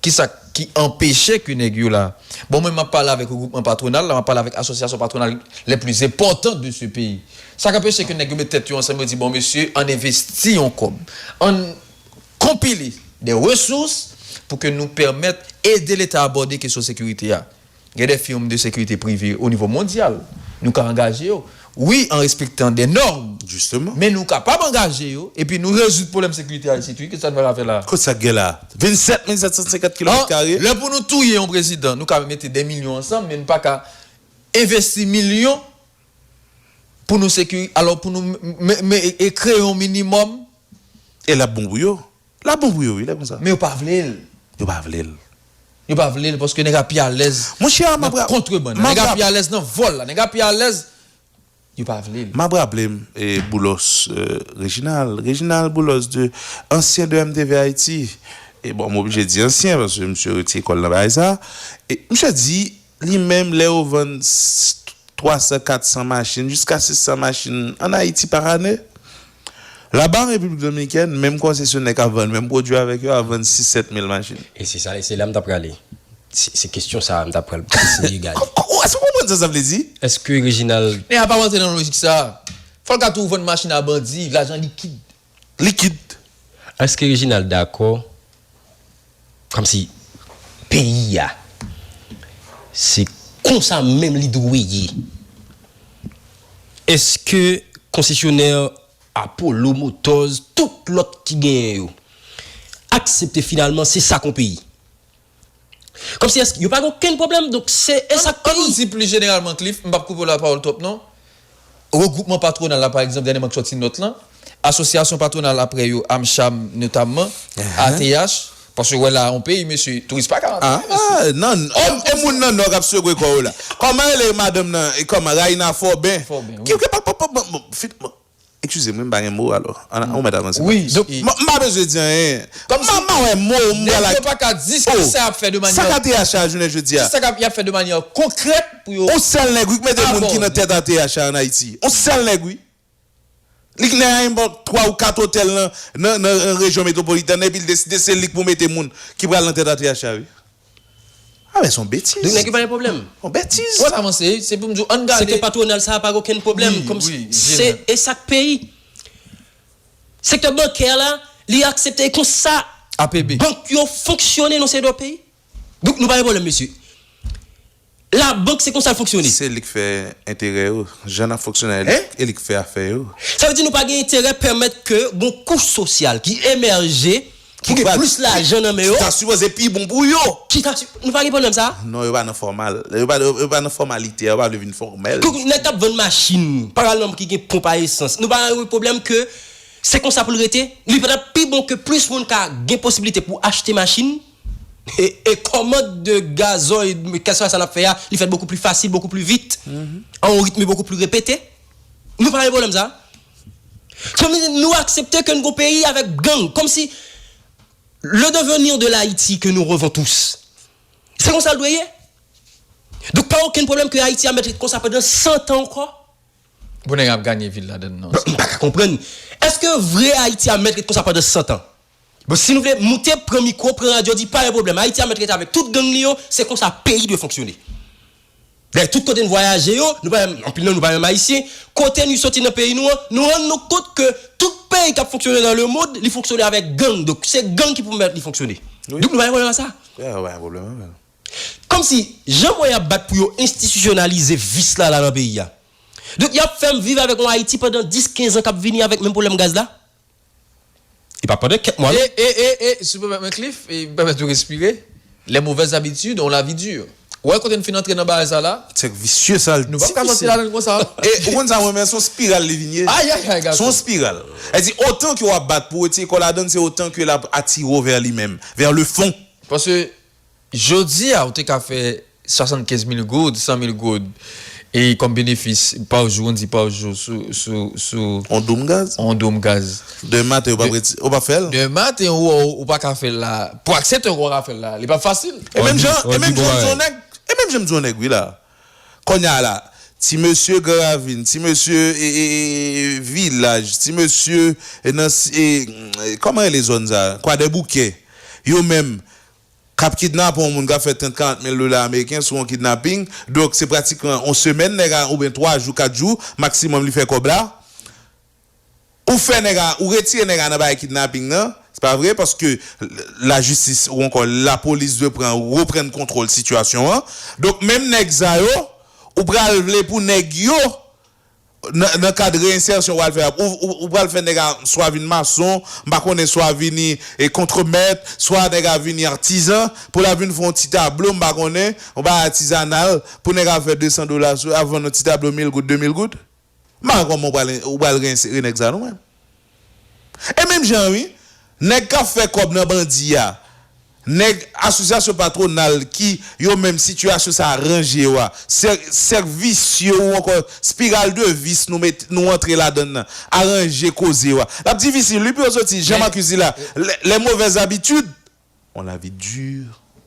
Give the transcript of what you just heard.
Kisa ki anpeche ke nèg yo la? Bon mwen map pale avèk regroupman patronal la, map pale avèk asosyasyon patronal les plus importantes de ce pays. Sa k anpeche ke nèg yo met tèt yo ansanm yo di bon mesye ann envesti yon kòb, ann konpile des ressources pou ke nou pèmèt ede leta abòde kesyon sekirite a. Gen de firm de sekirite prive o nivo mondyal, nou ka angaje yo, wi an respektan de nòrm, men nou kapab angaje yo epi nou rezoud pwoblèm sekirite a isit wi, kisa nou pral fè la a? Kot sa k gen la a? 27750 kilomèt kare? Lè pou nou touye yon prezidan, nou ka mete de milyon ansanm, men nou pa ka envesti milyon pou nou sekiri, alò pou nou kreye yon minimòm. E l ap bon pou yo? Lap bon pou yo wi lè konsa. Men yo pa vle l. Yo pa vle l. Yo pa vle l paske nèg a pi alèz nan kontrebann la. Nèg a pi alèz nan vòl la. Nèg a pi alèz. Yo pa vle l. Map raple m Boulos Reginald, Reginald Boulos de ansyen de MTV Haiti. E bon m oblije di ansyen paske misye rete kò l nan bagay sa. Misye di Li menm lè yo vann 300, 400 machin, jiska 600 machin an Ayiti par ane. Laba an Repiblik Dominikèn, menm konsesyonè k ap vann menm pwodui avèk yo ap vann 6, 7 mil machin. E se sa, e se la m t ap prale. Se kestyon sa a m t ap pral eseye gade. Ou èske ou konprann sa sa vle di? Èske Reginald. Men a pa rantre nan lojik sa a. Fò l ka tou vann machin a bandi, lajan likid. likid. Eske Reginald dakò komsi peyi a se konsa menm li dwe ye? Eske konsesyonè Apollo Motors tout lòt ki genyen yo aksepte finalman se sa kon peyi? Kòmsi èske yo pa gen okenn pwoblèm? Donk se e sa k peyi. An nou di plis jeneralman Cliff, m p ap koupe w lapawòl twòp non, regwoupman patwonal la pa egzanp, dènyèman k sòti nòt lan, asosyasyon patwonal apre yo, Amcham notamman, ATH, paske w wè la a yon peyi mesye, touris pa ka antre la mesye. Aa nan, e moun nan nò k ap sekwe kò yo la. Kòman rele madanm nan, kòman, Raina Forbin, ki, ki, pa, pa, pa, bon, bon, fi, bon. Ekskize m wi m pa gen mo alò an ou mèt avanse pa plis. Donk m pa bezwen di anyen. M pa m pa wè mo m pral ak. Nèg yo pa ka di ki sa y ap fè de manyè. Sa k ATH a jounen jodi a. Ki sa k ap y ap fè de manyè konkrèt pou yo. On sèl nèg wi k mete moun ki nan tèt ATH a an Ayiti. On sèl nèg wi. Li knnen anyen bank twa ou kat otèl nan nan rejyon metwopolitèn nan epi l deside se li k pou mete moun ki pral nan tèt ATH a wi. Ah men son betiz. Donk nèg yo pa gen pwoblèm. Son betiz. Wap avanse, se pou m di w ann gade. Se ke patwonal sa a pa gen okenn pwoblèm. Wi, wi, wi. Se e sa k peyi. Sektè bankè la, li aksepte e konsa. APB. Bank yo fonksyone nan se do peyi. Donk nou pa gen pwoblèm mesye. La bank se konsa l fonksyone. Se li k fè enterè yo. Jan nap fonksyone a e li k fè afè yo. Sa vle di nou pa gen enterè pèmèt ke gon kouch sosyal ki emèje pou gen plis lajan nan men yo. Ki ta sipoze pi bon pou yo. Ki ta si, nou pa gen pwoblèm sa a? Non yo pa nan fòmal. Yo pa yo pa nan fòmalite a, yo pa vle vin fòmèl. Donk nèg kap vann machin, paralèlman ki gen ponp a esans, nou pa gen yon pwoblèm ke se konsa pou l rete? Li pa tap pi bon ke plis moun ka gen posibilite pou achte machin? E commande de gazoil kèlswa sa nap fè a li fèt bokou pli fasil, bokou pli vit, a yon ritme bokou pli repete. Nou pa gen pwoblèm sa a. Sa vle di nou aksepte ke n gon peyi avèk gang. Kòmsi le devenir de l'Haiti que nous revons tous. Se konsa l dwe ye. Donk pa okenn pwoblèm ke Ayiti a mèt ret konsa pandan 100 tan ankò. Bon nèg ap ganye vil ladann non. M pa ka konprann. Èske vre Ayiti a mèt ret konsa pandan 100 tan? Bon si nou vle moute pran mikro pran radyo di pa gen pwoblèm ayiti a mèt rete avèk tout gang li yo se konsa peyi dwe fonksyone dayè tout kote n vwayaje yo nou pa menm anpil nan nou pa menm ayisyen kote nu soti nan peyi nou an nou rann nou kont ke tout peyi kap fonksyone nan lemond li fonksyone avèk gang donk se gang ki pou mèt li fonksyone nou pa gen pwoblèm a sa kòmsi jan mwen ap bat pou yo enstitisyonalize vis la la nan peyi a donk yap fèm viv avèk yon ayiti pandan 10 15 an kap vini avèk menm pwoblèm gaz la. E pa pandan kèk mwa non. E e e e, si w pèmèt mwen Cliff, e m pèmèt ou respire, les mauvaises habitudes ont la vie dure. Ou wè kote n fin antre nan bagay sa la? Sèk visye sa l difisil. Nou pap ka sòti ladan l konsa. E ou konn sa mwen men, s on spiral li vin ye. Ayayay gason! S on spiral. Sa vle di otan ke w ap bat pou w retire kò w ladan l, se otan ke l ap atire w vè li menm, vè le fon. Paske Jodi a ou te ka fè 75 mil goud, 100 mil goud e kòm benefis pa jou, on di pa jou sou. On doum gaz. On doum gaz. Demen maten ou pa pre, ou pa fèl. Demen maten ou wè ou pa ka fèl la. Pou aksepte ou pa ka fèl la, li pa fasil. E menm jan, e menm jan m di on nèg, e menm jan m di on nèg wi la. Konnya la, ti mesye Gran Ravin, ti mesye Vilaj, ti mesye nan Kòman rele zòn sa? Kwadèboukè, yo menm, k ap kidnape yon moun, k ap fè 30, 40 mil dola ameriken sou yon kidnaping, donk se pratikman yon semèn nèg a oubyen 3 jou, 4 jou maksimòm li fè kòb la. Ou fè nèg a, ou retire nèg a nan bagay kidnapping nan, se pa vre? Paske la jistis ou ankò la polis dwe pran reprann kontwòl sitiyasyon an. Donk menm nèg sa yo, ou pral vle pou nèg yo nan nan kad reinsertion ou al fè a, ou pral fè nèg a swa vin mason, m pa konnen swa vini kontremèt, swa nèg a vini artisan, pou la vin fè yon ti tablo m pa konnen, yon bagay atizanal pou nèg a fè 200 dola sou, ap vann yon ti tablo mil goud, de mil goud? Mara kòman ou pral re nèg sa nou menm? E menm jan an wi, nèg kap fè kòb nan bandi a, nèg asosyasyon patwonal ki yo menm sitiyasyon sa ranje yo a, sèk visye ou ankò spiral de vis nou antre ladann nan aranje koze yo a. Lap difisil wi pou yo soti, jan Marcus di la, les mauvaises habitudes ont la vie dure.